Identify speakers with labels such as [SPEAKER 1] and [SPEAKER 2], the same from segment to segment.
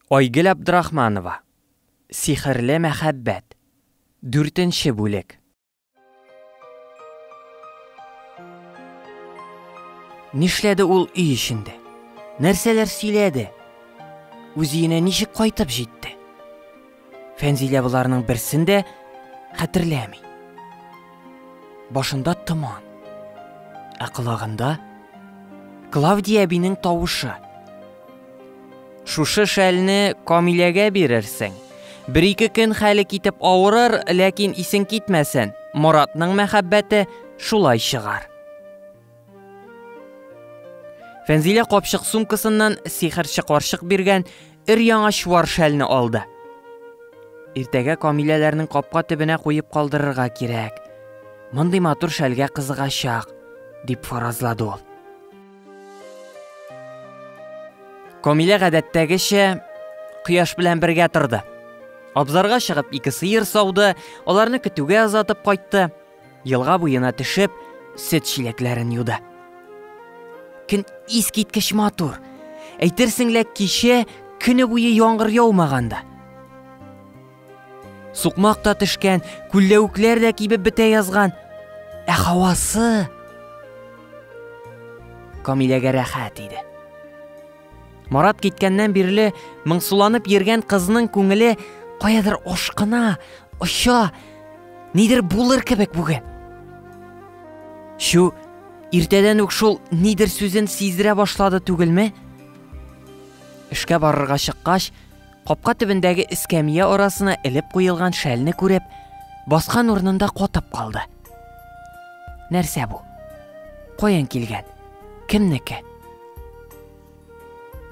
[SPEAKER 1] Айгөл Абдрахманова, Сихерле мәхәббәт, дүртенче бүлек. Нишләде ул өй эчендә? Нәрсәләр сөйләде? Үзиенә ничек кайтып җитте? Фәнзилә боларның берсен дә хәтерләми. Башында томан. Ә колагында Клавдия әбинең тавышы. Шушы шәлне Камиләгә бирерсең. Бер-ике көн хәле китеп авырыр, ләкин исең китмәсен. Моратның мәхәббәте шулай чыгар. Фәнзилә капчык сумкасыннан сихерче карчык биргән өр-яңа чуар шәлне алды. Иртәгә Камиләләрнең капка төбенә куеп калдырырга кирәк. Мондый матур шәлгә кызыгачак, дип фаразлады ул. Камилә гадәттәгечә кояш белән бергә торды. Абзарга чыгып ике сыер сауды, аларны көтүгә озатып кайтты. Елга буена төшеп, сөт чиләкләрен юды. Көн искиткеч матур. Әйтерсең лә кичә көне буе яңгыр яумаганда. Сукмак та төшкән, күлләвекләр дә кибеп бетә язган. Ә һавасы Камиләгә рәхәт иде. Марат киткәннән бирле моңсуланып йөргән кызның күңеле каядыр ашкына, оча, нидер булыр кебек бүген. Чу, иртәдән үк шул нидер сүзен сиздерә башлады түгелме? Эшкә барырга чыккач, Капка төбендәге эскәмия арасына элеп куелган шәлне күреп, баскан урынында катып калды. Нәрсә бу? Каян килгән? Кемнеке?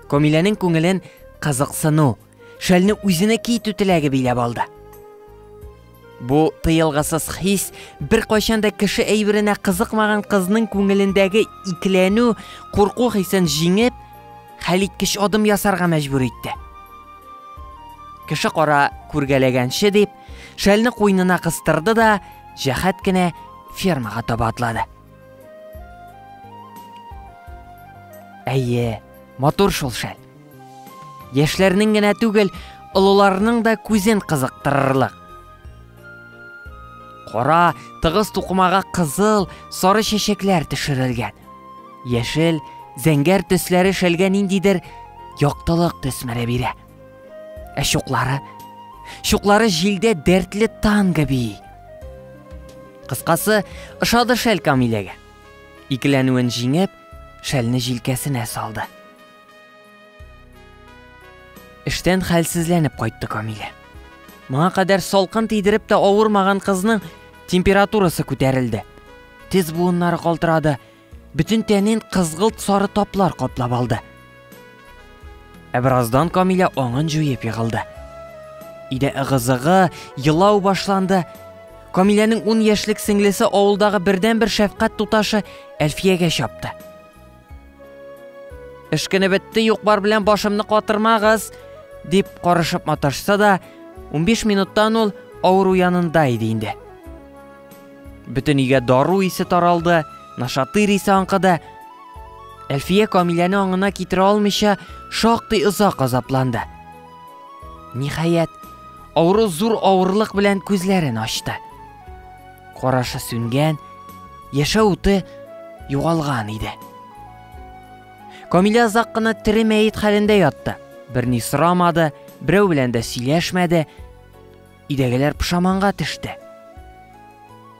[SPEAKER 1] Комиләнең күңелен кызыксыну, шәлне үзенә китү теләге биләп алды. Бу тыелгысыз хис беркайчан да кеше әйберенә кызыкмаган кызның күңелендәге икеләнү, курку хисен җиңеп, хәлиткеч адым ясарга мәҗбүр итте. Кеше кара күргәләгәнче дип, шәлне куйнына кыстырды да, җәһәт кенә фермага таба атлады. Әйе, матур шул шәл. Яшьләрнең генә түгел, олыларның да күзен кызыктырырлык. Кара, тыгыз тукымага кызыл, сары чәчәкләр төшерелгән. Яшел, зәңгәр төсләре шәлгә ниндидер яктылык төсмерә бирә. Ә чуклары? Чуклары җилдә дәртле танго бии. Кыскасы, ошады шәл Камиләгә. Икеләнүен җиңеп, шәлне җилкәсенә салды. Эштән хәлсезләнеп кайтты Камилә. Моңа кадәр салкын тидереп тә авырмаган кызның температурасы күтәрелде. Тез буыннары калтырады, бөтен тәнен кызгылт сары таплар каплап алды. Ә бераздан Камилә аңын җуеп егылды. Иде ыгызыгы, елау башланды. Камиләнең 10 яшьлек сеңлесе авылдагы бердәнбер шәфкать туташы Әлфиягә чапты. Эш көне бетте, юк-бар белән башымны катырмагыз, дип карышып маташса да, 15 минуттан ул авыру янында иде инде. Бөтен өйгә дару исе таралды, нашатырь исе аңкыды. Әлфия Камиләне аңына китерә алмыйча, шактый озак азапланды. Ниһаять, авыру зур авырлык белән күзләрен ачты. Карашы сүнгән, яшә уты югалган иде. Камилә озак кына тере мәет хәлендә ятты. Берни сорамады, берәү белән дә сөйләшмәде. Идәгеләр пошаманга төште.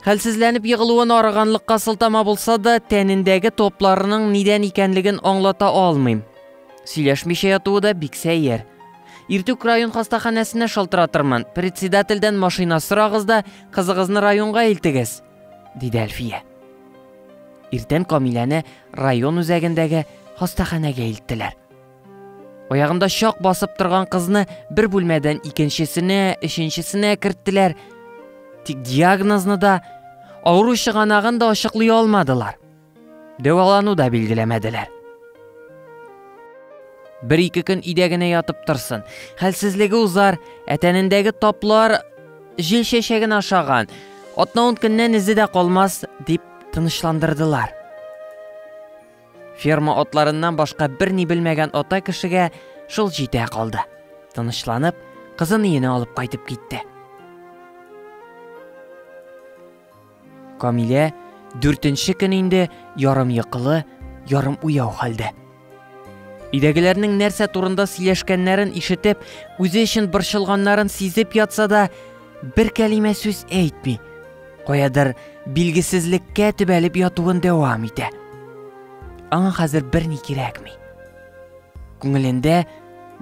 [SPEAKER 1] Хәлсезләнеп егылуын арыганлыкка сылтама булса да, тәнендәге топларының нидән икәнлеген аңлата алмыйм. Сөйләшмичә ятуы да бик сәер. Иртүк район хастаханәсенә шалтыратырмын, председательдән машина сорагыз да, кызыгызны районга илтегез, диде Әлфия. Иртән Камиләне район үзәгендәге хастаханәгә илттеләр. Аягында чак басып торган кызны бер бүлмәдән икенчесенә, өченчесенә керттеләр. Тик диагнозны да, авыру чыганагын да ачыклый алмадылар. Дәвалану да билгеләмәделәр. Бер-ике көн өйдә генә ятып торсын. Хәлсезлеге узар, ә тәнендәге таплар җил чәчәген ашаган. Атна-ун көннән эзе дә калмас, дип тынычландырдылар. Ферма атларыннан башка берни белмәгән ата кешегә шул җитә калды. Тынычланып, кызын өенә алып кайтып китте. Камилә дүртенче көн инде ярым йокылы, ярым уяу хәлдә. Өйдәгеләрнең нәрсә турында сөйләшкәннәрен ишетеп, үзе өчен борчылганнарын сизеп ятса да, бер кәлимә сүз әйтми. Каядыр билгесезлеккә төбәлеп ятуын дәвам итә. Аңа хәзер берни кирәкми. Күңелендә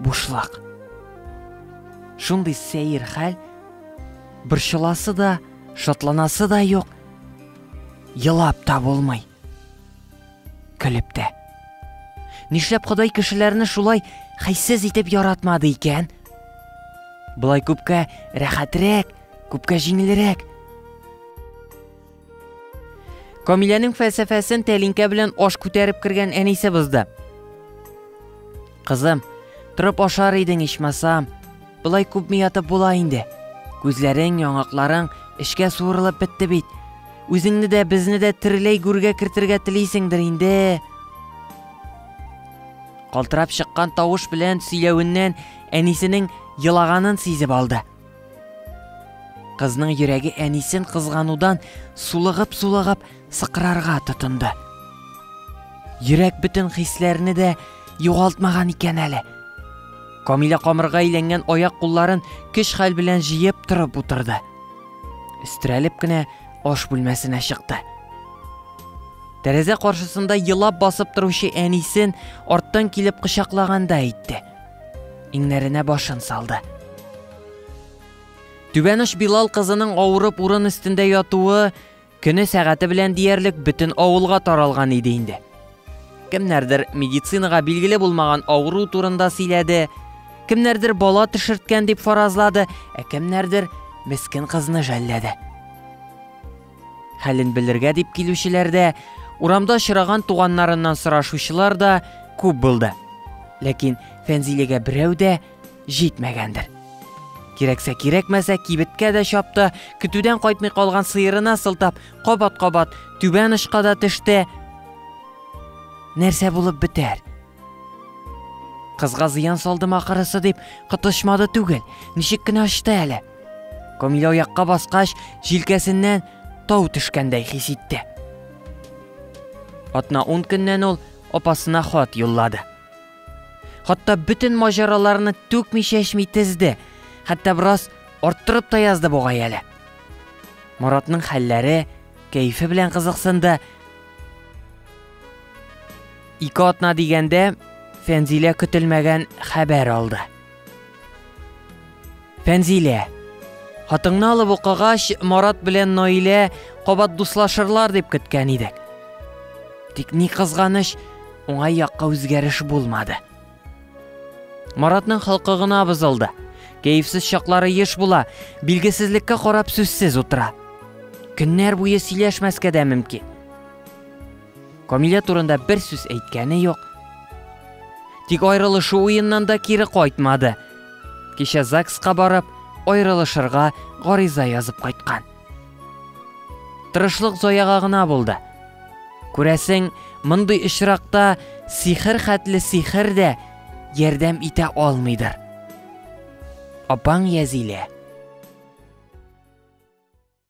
[SPEAKER 1] бушлык. Шундый сәер хәл борчыласы да, Шатланасы да юк, елап та булмый. Көлеп тә. Нишләп Ходай кешеләрне шулай хәйсез итеп яратмады икән? Былай күпкә рәхәтрәк, күпкә җиңелрәк. Камиләнең фәлсәфәсен тәлинкә белән аш күтәреп кергән әнисе бозды. Кызым, торып ашар идең ичмасам. Болай күпме ятып була инде. Күзләрең, яңакларың эшкә суырылып бетте бит. Үзеңне дә, безне дә тереләй гүргә кертергә телисеңдер инде. Калтырап чыккан тавыш белән сөйләвеннән әнисенең елаганын сизеп алды. Кызның йөрәге әнисен кызганудан сулыгып-сулыгып сыкрарга тотынды. Йөрәк бөтен хисләрне дә югалтмаган икән әле. Камилә камырга әйләнгән аяк кулларын көч хәл белән җыеп торып утырды. Өстерәлеп кенә аш бүлмәсенә чыкты. Тәрәзә каршысында елап басып торучы әнисен арттан килеп кочаклаганда әйтте. Иңнәренә башын салды. Түбәнеш Билал кызының авырып урын өстендә ятуы көне сәгате белән диярлек бөтен авылга таралган иде инде. Кемнәрдер медицинага билгеле булмаган авыру турында сөйләде, кемнәрдер бала төшерткән дип фаразлады, ә кемнәрдер мескен кызны жәлләде. Хәлен белергә дип килүчеләр дә, урамда очраган туганнарыннан сорашучылар да күп булды. Ләкин Фәнзилегә берәү дә җитмәгәндер. Кирәксә кирәкмәсә кибеткә дә чапты, көтүдән кайтмый калган сыерына сылтап, кабат-кабат түбән очка да төште. Нәрсә булып бетәр? Кызга зыян салдым ахырысы дип, кытышмады түгел. Ничек кенә ачты әле. Камилә аякка баскач, җилкәсеннән тау төшкәндәй хис итте. Атна ун көннән ул апасына хат юллады. Хатта бөтен маҗараларны түкми чәчми тезде, хәтта бераз арттырып та язды бугай әле. Маратның хәлләре, кәефе белән кызыксынды, Ике атна дигәндә Фәнзилә көтелмәгән хәбәр алды. Фәнзилә, хатыңны алып укыгач, Марат белән Наилә кабат дуслашырлар дип көткән идек. Тик ни кызганыч, уңай якка үзгәреш булмады. Маратның халкы гына бозылды. Кәефсез чаклары еш була, билгесезлеккә карап сүзсез утыра. Көннәр буе сөйләшмәскә дә мөмкин. Камилә турында бер сүз әйткәне юк. Тик аерылышу уеннан да кире кайтмады. Кичә ЗАГСка барып, аерылышырга гариза язып кайткан. Тырышлык заяга гына булды. Күрәсең, мондый очракта сихер хәтле сихер дә ярдәм итә алмыйдыр. Апаң Язилә